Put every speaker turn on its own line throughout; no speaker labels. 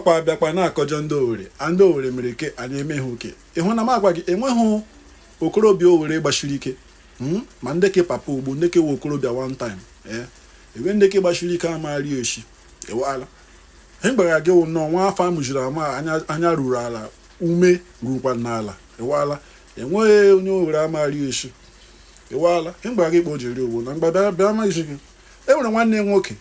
ọkwa abịakwa na-akọjọ ndị owere a ndị owere mere ke a na-eme ha oke ịhụ na m agwa gị enweghị okorobịa owere gbachiri ike hmm? ma ndị ke papa ugbo ndị ke we okorobịa one time ee eh? ebe ndị ke gbachiri ike amaghari eshi ewala ihe gbara gị wụ nnọọ nwa afọ amụjiri amụ anya ruru ala ume rukwa n'ala ewala enweghị onye owere amaghari eshi ewala ihe gbara gị kpa o jiri owo na mgbada bịa amaghịzi gị e nwere nwanne nwoke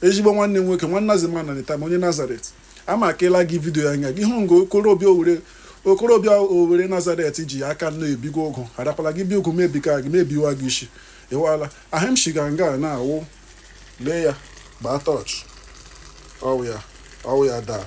ezigbo nwanne nwoke nwanna zima na nita onye nazaret ama akela gị vidio ya anya gị hụ nga okorobịa owere okorobịa owere nazaret ji aka nọ ebiga ụgụ harakwala gị bi ụgụ mebika gị mebiwa gị isi ịwala ihe m shiga nga na-awụ lee ya gbaa tọch ọwụ ya ọwụ ya daa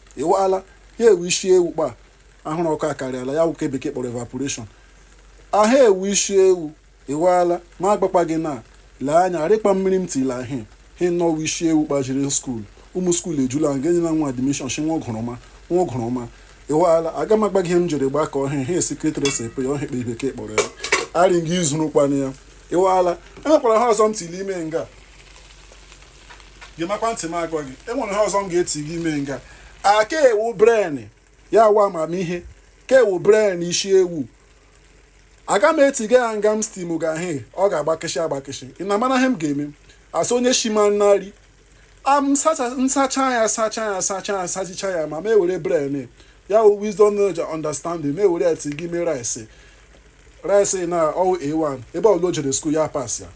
ịwaala he wụ isi ewu kpa ahụrụ ọkụ akarịala ya wụ ke bekee kpọrọ evaporation a he wụ isi ewu ịwaala ma agbakpa gị na lee anya rịkpa mmiri m tila ahị he nnọọ isi ewu kpa jiri skuul ụmụ skuul ejula nga enyela nwa admishọn shi nwa ọgụrụma nwa ọgụrụma ịwaala aga m agwa gị ihe m jiri gbakọọ ya he secret recipe ya ọhịa kpe bekee kpọrọ ya arị nga izuru kwana ya ịwaala enwekwara ihe ọzọ m tili ime nga gemakwa ntị m agwa gị enwere ihe ọzọ m ga-eti gị ime nga a ke a wụ bren ya wụ amamihe ke a wụ bren isi ewu aga m etiga ya nga m stim ga he ọ ga-agbakịshị agbakịshị ị na-amana ihe m ga-eme asị onye shima nri m sacha ya sacha ya sacha ya sachicha ya ma ma ewere bren ya wụ wisdom knowledge understanding ma ewere ya ti gị ime rice rice na ọwụ a1 ebe ọbụla o jere skuul ya pas ya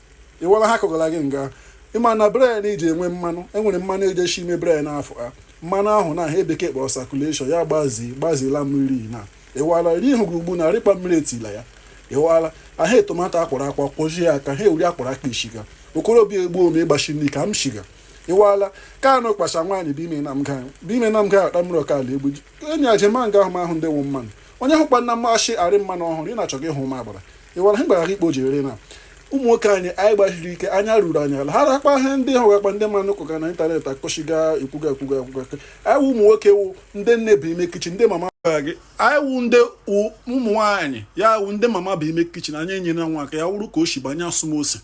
ịwala ha kọgara gị nga ịma na bren iji enwe mmanụ enwere mmanụ eji eshi ime bren afọ a mmanụ ahụ na ihe bekee kpọrọ sakuleshọn ya gbazi gbazila mmiri na ịwala ri ihu gị ugbu na rịkpa mmiri etila ya ịwala ahụ tomato akwọrọ akwọ kwoji ya aka ha ewuri akwọrọ aka ishiga okorobịa egbuo ome ịgbachi nri ka m shiga iwala ka anụ kpacha nwaanyị bi ime na mga bi ime na mga akpa mmiri ọkala egbu enyi ajema nga ahụ m ahụ ndị wụ mmanụ onye hụkwa na mmasị arị mmanụ ọhụrụ ị na-achọ gị hụ ma agbara ịwala ha gbara ikpo jiri na ụmụ nwoke anyị anyị gbachiri ike anya ruru anyị ala ha rakpa ihe ndị ha wakpa ndị mmanụ kọga na ịntanetị akọchiga ekwuga ekwuga ekwuga anyị wụ ụmụ nwoke wụ ndị nne bi ime kichin ndị mama gị anyị wụ ndị ụmụ nwaanyị ya wụ ndị mama bi ime kichin anyị enyere nwa aka ya wụrụ ka o si banye asụmose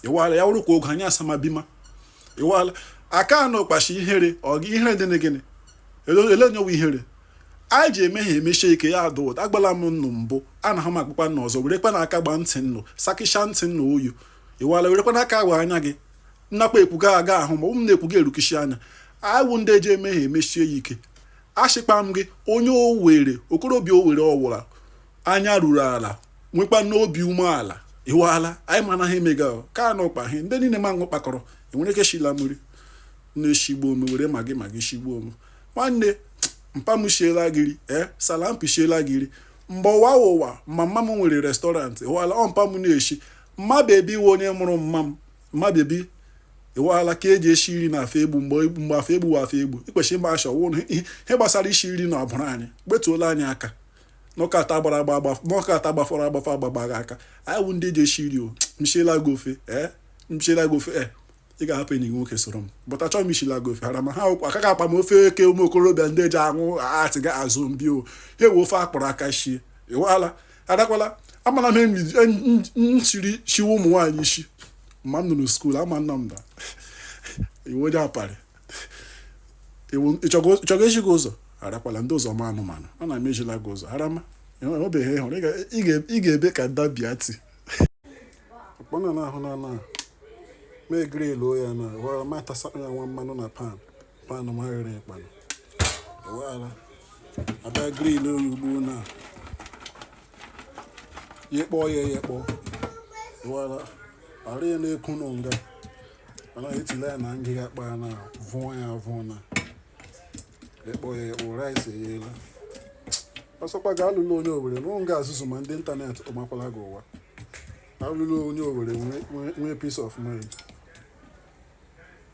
ịwala ya wụrụ ka oge anyị asamabima ịwala aka anọ kpachi ihere ọ gị ihere dị na gịnị ele onye wụ ihere anyị ji eme ihe emechie ike ya ada ụda agbala m nnụ mbụ a na ha m akpụkpa nna ọzọ werekwa na aka gbaa ntị nnụ sakịcha ntị nna oyu ịwala werekwa na aka agba anya gị nnakwa ekwu ga aga ahụ ma ụmụ na-ekwu ga erukishi anya anyị wụ ndị eji eme ihe emechie ya ike achịkpa m gị onye owere okorobịa owere ọwụra anya ruru ala nwekwa n'obi umeala ịwala anyị ma anaghị emega ka a n'ụkpa ihe ndị niile ma ṅụ kpakọrọ enwere ike shila mmiri na-eshigbu ome were magị magị shigbuo ome nwanne mpa m shiela gị nri ee eh, salampi shiela gị nri mgbe ụwa wụ ụwa mama m nwere restaurant ịwala ọ mpa m na-eshi mma bebi wụ onye mụrụ mma m mma bebi ịwala ka eji eshi nri na afọ egbu mgbe afọ egbu wụ afọ egbu ikwesị ịma asha wụ ihe gbasara ishi nri na ọbụrụ anyị gbetuola anyị aka nọkọta gbara agba agba nọkọta gbafọrọ agbafa agbagbaghị aka anyị wụ ndị eji eshi nri o m shiela gị ofe ee eh, m shiela gị ofe ee eh. ị ga-ahapụ enyi gị nwoke soro m bụta chọọ m shiela gị ofe hara ma ha ụkwa aka ga-akpa m ofe eke ụmụ okorobịa ndị eji aṅụ atị ga azụ mbi o ha ewe ofe akpọrọ aka shie ịwala adakwala ama na m shiri shiwe ụmụ nwaanyị ishi ma m nọ na skuul ama nna m da ị wụ onye apari ịchọgo echi gị ụzọ harakwala ndị ụzọ ma anụmanụ a na m ejila gị ụzọ harama enwebeghị ịhụrụ ị ga-ebe ka dabia ti ọkpọna na ahụ na na mee grill ya na wara ma tasa ya nwa mmanụ na pan ma ghere ịkpanụ wara abịa grill ya ugbu na ya kpọọ ya ya kpọọ wara ara ya na-eku nọ nga mana etila ya na ngịga kpa ya na vụọ ya vụọ na ịkpọ ya ịkpọ rice eyela ọ sọkwa gị alụla onye owere nọrọ nga ezuzu ma ndị ịntanetị ọ makwala gị ụwa alụlụ onye owere nwee peace of mind